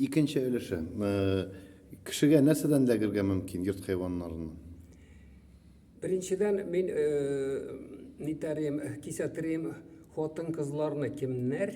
Икенче өлеше. Кешегә нәрсәдән эләгергә мөмкин йорт хайваннарыннан? Беренчедән мин нитәрем, кисәтерим хатын-кызларны кемнәр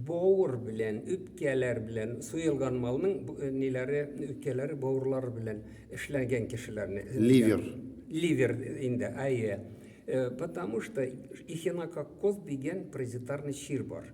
бауыр белән, үпкәләр белән суелган малның э, ниләре, үпкәләре, бауырлары белән эшләнгән кешеләрне. Ливер. Ливер инде, әйе. Э, потому что эхинококкоз дигән паразитарный чир бар.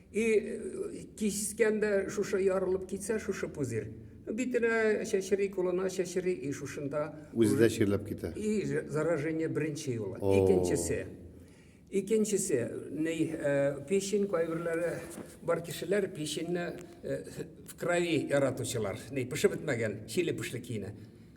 И кискен дә шушы ярылып китсә, шушы пузырь. Битенә чәчри, кулына чәчри, и шушында... Үзе дә чирләп китә. И заражение беренче юлы. Икенчесе. Икенчесе, ни, печень кайберләре бар кешеләр печеньне в крови яратучылар. Ни, пешеп бетмәгән, чили пешли киенә.